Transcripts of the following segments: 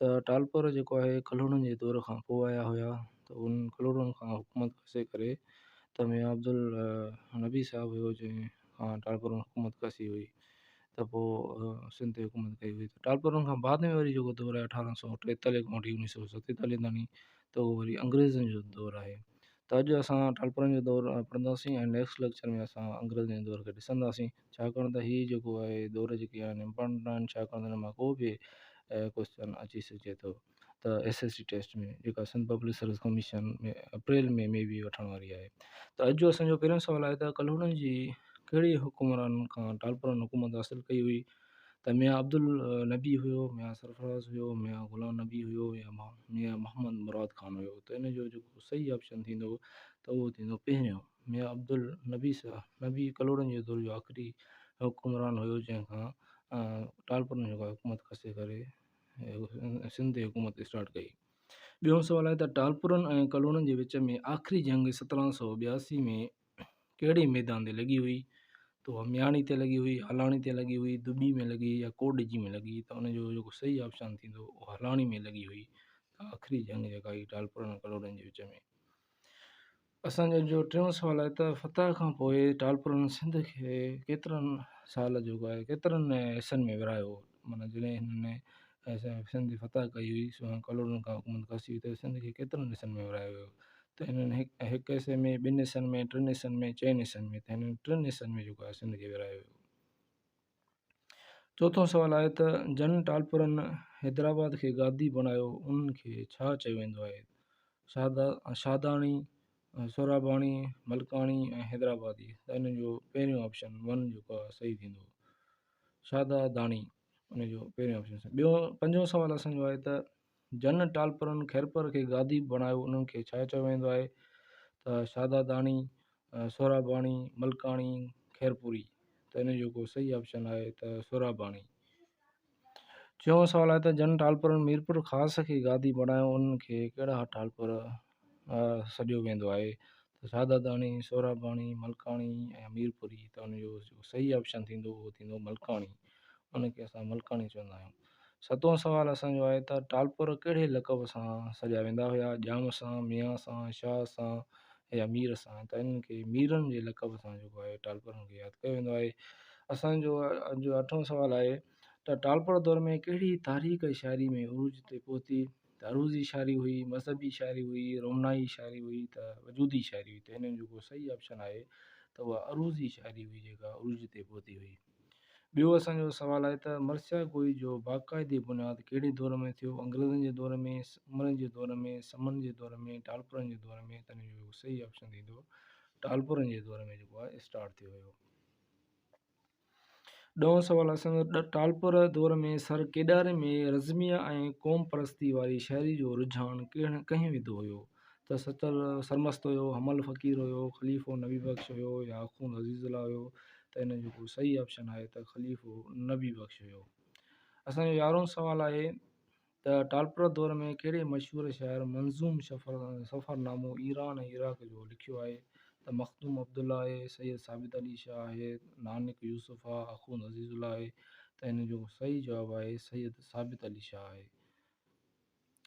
ته ٽالپر جيڪو آهي ڪلهوڙن جي دور کان پوء آيا هيا ته انهن ڪلهوڙن کان حڪومت کسي ڪري ته ميان عبدالنبي صاحب هيو جنهن کان ٽالپرن حڪومت کسي هئي ته پوء سنڌ تي حڪومت ڪئي هئي ته ٽالپرن کان بعد ۾ وري جيڪو دور آهي اٺارهن سؤ ٽيتاليهه کان وٺي اڻيهه سؤ ستيتاليهه تائين ته اهو وري انگريزن جو دور آهي ته اڄ اسان ٽالپرن جو دور پڙهنداسين ۽ نيڪسٽ ليڪچر ۾ اسان انگريزن جي دور کي ڏسنداسين ڇاڪاڻ ته هي جيڪو آهي دور جيڪي آهن امپارٽنٽ آهن ڇاڪاڻ ته هن مان ڪو به ڪوسچن اچي سگهجي ٿو ته ايس ايس سي ٽيسٽ ۾ جيڪا Sindh public service commission ۾ April ۾ maybe وٺڻ واري آهي ته اڄ جو اسانجو پهريون سوال آهي ته ڪلهوڙن جي ڪهڙي حڪمران کان ٽالپرن حڪومت حاصل ڪئي هئي ته ميان عبدالنبي هيو ميان سرفراز هيو ميان غلام نبي هيو يا ميان محمد مراد خان هيو ته ان جو جيڪو صحيح آپشن ٿيندو ته اهو ٿيندو پهريون ميان عبدالنبي سا نبي ڪلهوڙن جي دور جو آخري حڪمران هيو جنهن کان ٽالپرن جيڪا حڪومت کسي ڪري سنڌ تي حڪومت اسٽارٽ ڪئي ٻيون سوال آهي ته ٽالپرن ۽ ڪلهوڙن جي وچ ۾ آخري جنگ سترهن سو ٻياسي ۾ ڪهڙي ميدان تي لڳي هئي ته اها مياڻي تي لڳي هئي هلاڻي تي لڳي هئي دٻي ۾ لڳي يا ڪوڏجي ۾ لڳي ته ان جو جيڪو صحيح آپشان ٿيندو اهو هلاڻي ۾ لڳي هئي ته آخري جنگ جيڪا هي ٽالپرن ۽ ڪلهوڙن جي وچ ۾ اسان جو جو ٽيون سوال آهي ته فتح کان پوء ٽالپرن سنڌ کي ڪيترن سال جيڪو آهي ڪيترن حصن ۾ ورهايو معنيٰ جڏهن هنن سنڌ جي فتح ڪئي هئي سونهن ڪلهوڙن کان حڪومت کسي هئي ته سنڌ کي ڪيترن حصن ۾ ورهايو ويو ته هنن هڪ هڪ حصي ۾ ٻن حصن ۾ ٽن حصن ۾ چئن حصن ۾ ته هنن ٽن حصن ۾ جيڪو آهي سنڌ کي ورهايو ويو چوٿون سوال آهي ته جن ٽالپرن حيدرآباد کي گادي بڻايو انهن کي ڇا چيو ويندو آهي؟ شادا شاداڻي، سهراباڻي، ملڪاڻي ۽ حيدرآبادي ته ان جو پهريون آپشن ون جيڪو آهي صحيح ٿيندو. شادا داڻي ان جو پهريون آپشن ٿيندو. ٻيو پنجون سوال اسان جو آهي ته جن ٽالپرن خيرپور کي گادي بڻايو انهن کي ڇا چيو ويندو آهي ته شهداداڻي، سهراباڻي، ملڪاڻي، خيرپوري ته ان جو ڪو صحيح آپشن آهي ته سهراباڻي. ڇهون سوال آهي ته جن ٽالپرن ميرپور خاص کي گادي بڻايو انهن کي ڪهڙا ٽالپر سڏيو ويندو آهي ته شاهداداڻي، سهراباڻي، ملڪاڻي ۽ ميرپوري ته ان جو جيڪو صحيح آپشن ٿيندو اهو ٿيندو ملڪاڻي ان کي اسان ملڪاڻي چوندا آهيون. ستون سوال اسان جو آهي ته ٽالپر ڪهڙي لقب سان سڏيا ويندا هيا ڄام سان، ميان سان، شاهه سان يا مير سان ته انهن کي ميرن جي لقب سان جيڪو آهي ٽالپرن کي ياد ڪيو ويندو آهي. اسان جو اٺون سوال آهي ته ٽالپر دور ۾ ڪهڙي تاريخ شاعري ۾ عروج تي پهتي؟ ته عروضي شاعري هئي، مذهبي شاعري هئي، رومانائي شاعري هئي ته وجودي شاعري هئي ته هن ۾ جيڪو صحيح آپشن آهي ته اها عروضي شاعري هئي جيڪا عروج تي پهتي هئي. ٻيو اسان جو سوال آهي ته مرثيه گوئي جو باقاعدي بنياد ڪهڙي دور ۾ ٿيو، انگريزن جي دور ۾، عمرن جي دور ۾، سمن جي دور ۾، ٽالپرن جي دور ۾، ته هن جو جيڪو صحيح آپشن ٿيندو ٽالپرن جي دور ۾ جيڪو آهي اسٽارٽ ٿيو هيو. ڏهون سوال، اسان جو ٽالپر دور ۾ سر ڪيڏاري ۾ رزميه ۽ قوم پرستي واري شاعري جو رجحان ڪهڙ ڪنهن وڌو هيو ته سچل سرمست هيو، حمل فقير هيو، خليفو نبي بخش هيو يا آخوند عزيز الله هيو ته ان جو ڪو صحيح آپشن آهي ته خليفو نبي بخش هيو. اسان جو يارهون سوال آهي. ته ٽالپرا دور ۾ ڪهڙي مشهور شاعر منظوم سفرنامو ايران ۽ عراق جو لکيو آهي ته مخدوم عبدالله آهي، سيد ثابت علي شاهه آهي، نانڪ يوسف آهي، اخوند عزيز الله آهي ته ان جو صحيح جواب آهي سيد ثابت علي شاهه آهي.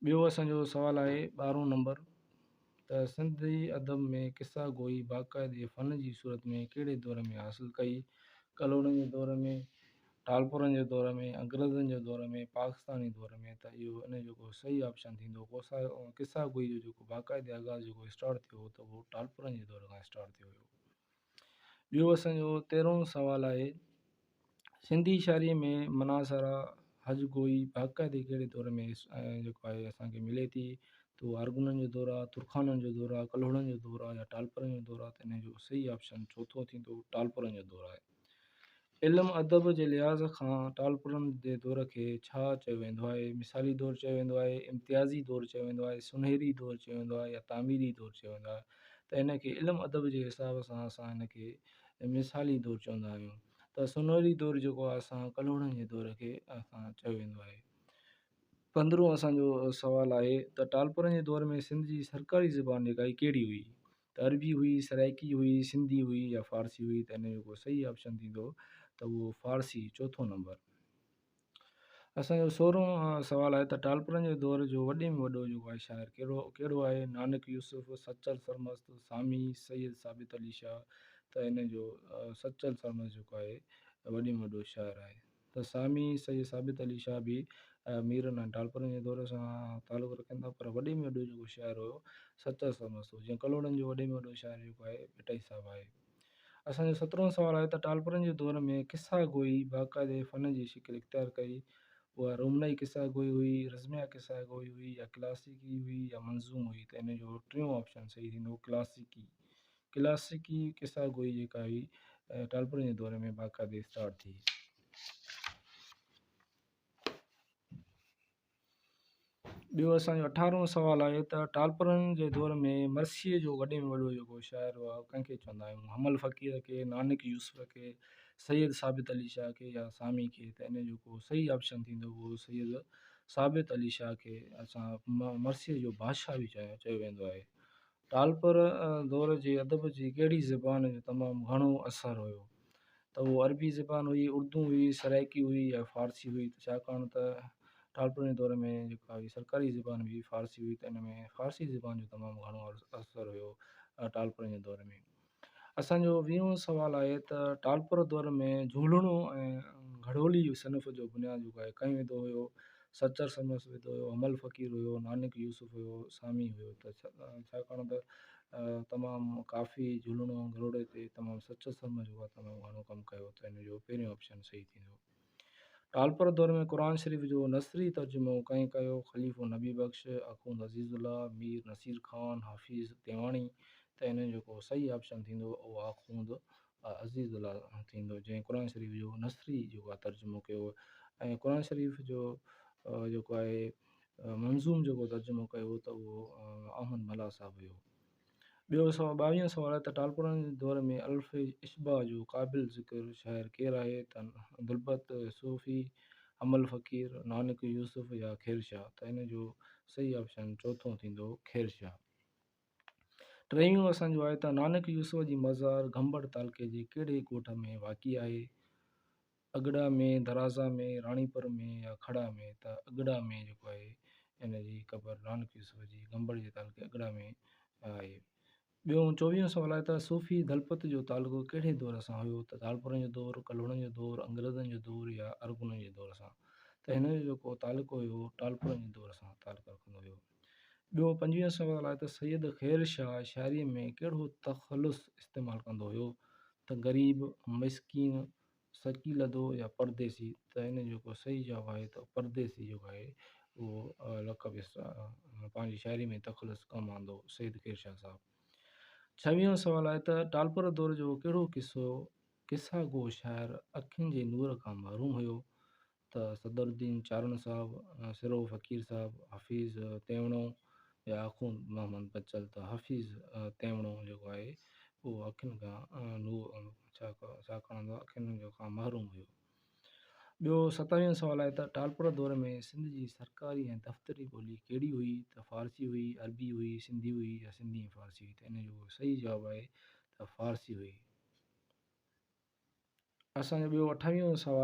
ٻيو اسان جو سوال آهي ٻارهون نمبر. ته سنڌي ادب ۾ قصه گوئي باقاعدي فن جي صورت ۾ ڪهڙي دور ۾ حاصل ڪئي؟ ڪلهوڙن جي دور ۾، ٽالپرن جي دور ۾، انگريزن جي دور ۾، پاڪستاني دور ۾، ته اهو ان جو ڪو صحيح آپشن ٿيندو. قصه گوئي جو جيڪو باقاعدي آغاز جيڪو اسٽارٽ ٿيو هو ته اهو ٽالپرن جي دور کان اسٽارٽ ٿيو هيو. ٻيو اسان جو تيرهون سوال آهي، سنڌي شاعريء ۾ منا سارا هج گوئي باقاعدي ڪهڙي دور ۾ جيڪو آهي اسان کي ملي ٿي ته اها ارغونن جو دور آهي، ترخانن جو دور آهي، ڪلهوڙن جو دور آهي يا ٽالپرن جو دور آهي ته ان جو صحيح آپشن چوٿون ٿيندو ٽالپرن جو دور آهي. علم ادب جي لحاظ کان ٽالپرن جي دور کي ڇا چيو ويندو آهي؟ مثالي دور چيو ويندو آهي، امتيازي دور چيو ويندو آهي، سونهري دور چيو ويندو آهي يا تعميري دور چيو ويندو آهي ته هن کي علم ادب جي حساب سان اسان هن کي مثالي دور چوندا آهيون ته سونهري دور جيڪو آهي اسان ڪلهوڙن جي دور کي اسان چيو ويندو آهي. پندرهون اسان جو سوال آهي ته ٽالپرن جي دور ۾ سنڌ جي سرڪاري زبان جيڪا هئي ڪهڙي هئي؟ ته عربي هئي، سرائيڪي هئي، سنڌي هئي يا فارسي هئي ته هن جو ڪو صحيح آپشن ٿيندو ته اهو فارسي چوٿون نمبر. اسان جو سورهون سوال آهي ته ٽالپرن جي دور جو وڏي ۾ وڏو جيڪو آهي شاعر ڪهڙو ڪهڙو آهي نانڪ يوسف، سچل سرمست، سامي، سيد ثابت علي شاهه ته هن جو سچل سرمست جيڪو آهي وڏي ۾ وڏو شاعر آهي. ته سامي سيد ثابت علي شاهه به ميرن ۽ ٽالپرن جي دور سان تعلق رکن ٿا پر وڏي ۾ وڏو جيڪو شاعر هيو سچل سرمست هو جيئن ڪلهوڙن جو وڏي ۾ وڏو شاعر جيڪو آهي ڀٽائي صاحب آهي. اسان جو سترهون سوال آهي ته ٽالپرن جي دور ۾ قصه گوئي باقاعدي فن جي شڪل اختيار ڪئي اها رومنائي قصه گوئي هئي رزميه قصه گوئي هئي يا ڪلاسيڪي هئي يا منظوم هئي ته ان جو ٽيون آپشن صحيح ٿيندو ڪلاسيڪي ڪلاسيڪي قصه گوئي جيڪا هئي ٽالپرن جي دور ۾ باقاعدي اسٽارٽ ٿي. ٻيو اسان جو اٺارهون سوال آهي ته ٽالپرن جي دور ۾ مرثيي جو وڏي ۾ وڏو جيڪو شاعر هئا هو ڪنهن کي چوندا آهيون حمل فقير کي نانڪ يوسف کي سيد ثابت علي شاهه کي يا سامي کي ته ان جو ڪو صحيح آپشن ٿيندو هو سيد ثابت علي شاهه کي اسان مرثيي جو بادشاهه به چيو ويندو آهي ٽالپر دور جي ادب جي ڪهڙي زبان جو تمام گهڻو اثر هيو ته اهو عربي زبان هئي اردو هئي سرائڪي هئي يا فارسي هئي ته ڇاڪاڻ ته ٽالپرن جي دور ۾ جيڪا هئي سرڪاري زبان هئي فارسي هئي ته ان ۾ فارسي زبان جو تمام گهڻو اثر هيو ٽالپرن جي دور ۾ اسان جو ويهون سوال آهي ته ٽالپر دؤر ۾ جهولڻو ۽ گهڙولي صنف جو بنياد جهڪائي ڪنهن وڌو هيو؟ سچر سمس وڌو هيو، حمل فقير هيو، نانڪ يوسف هيو، سامي هيو ته ڇاڪاڻ ته تمام ڪافي جهولڻو ۽ گهڙولي تي تمام سچر سمس جو تمام گهڻو ڪم ڪيو ته ان جو پهريون آپشن صحيح ٿيندو. ٽالپر دور ۾ قرآن شريف جو نثري ترجمو ڪنهن ڪيو؟ خليفو نبي بخش، اخوند عزيز الله، مير نصير خان، حفيظ تيواڻي ته انهن جو ڪو صحيح آپشن ٿيندو اهو اخوند عزيز الله ٿيندو جنهن قرآن شريف جو نثري جيڪو آهي ترجمو ڪيو ۽ قرآن شريف جو جيڪو آهي منظوم جيڪو ترجمو ڪيو ته اهو احمد ملاح صاحب هيو. ٻيو سؤ ٻاويهون سوال ته ٽالپرن جي دور ۾ الف اشباع جو قابل ذڪر شاعر ڪير آهي ته عبدالبت صوفي، امل فقير، نانڪ يوسف يا خير شاهه ته ان جو صحيح آپشن چوٿون ٿيندو خير شاهه. ٽيهون اسان جو آهي ته نانڪ يوسف جي مزار گهمبڙ تعلقي جي ڪهڙي ڳوٺ ۾ واقع آهي؟ اڳڙا ۾ درازا ۾ راڻيپور ۾ يا کڙا ۾ ته اڳڙا ۾ جيڪو آهي ان جي قبر نانڪ يوسف جي گنبڙ جي تعلقي اڳڙا ۾ آهي. ٻيو چوويهون سوال آهي ته صوفي دلپت جو تعلقو ڪهڙي دور سان هيو ته ڌالپورن جو دور، ڪلهوڙن جو دور، انگريزن جو دور يا ارغونن جي دور سان ته هن جو جيڪو تعلقو هيو اهو ٽالپورن جي دور سان تعلقو رکندو هيو. ٻيو پنجويهون سوال آهي ته سيد خير شاهه شاعري ۾ ڪهڙو تخلص استعمال ڪندو هيو ته غريب، مسڪين، سچي لڌو يا پرديسي ته ان جو ڪو صحيح جواب آهي ته پرديسي جيڪو آهي اهو لقب پنهنجي شاعري ۾ تخلص ڪم آندو سيد خير شاهه صاحب ڇويهون سوال آهي ته ٽالپر دور جو ڪهڙو قصو قصا گو شاعر اکين جي نور کان محروم هيو ته صدر الدين چارڻ صاحب، سرهو فقير صاحب، حفيظ تيوڻو يا آخوند محمد بچل ته حفيظ تيوڻو جيڪو آهي اهو اکين کان ڇا ڪڻندو اکين کان محروم هيو. ٻيو ستاويهون سوال آهي ته ٽالپر دور ۾ سنڌ جي سرڪاري ۽ دفتري ٻولي ڪهڙي هئي ته فارسي هئي، عربي هئي، سنڌي هئي يا سنڌي ۽ فارسي هئي ته ان جو صحيح جواب آهي ته فارسي هئي. اسان جو ٻيو اٺاويهون سوال.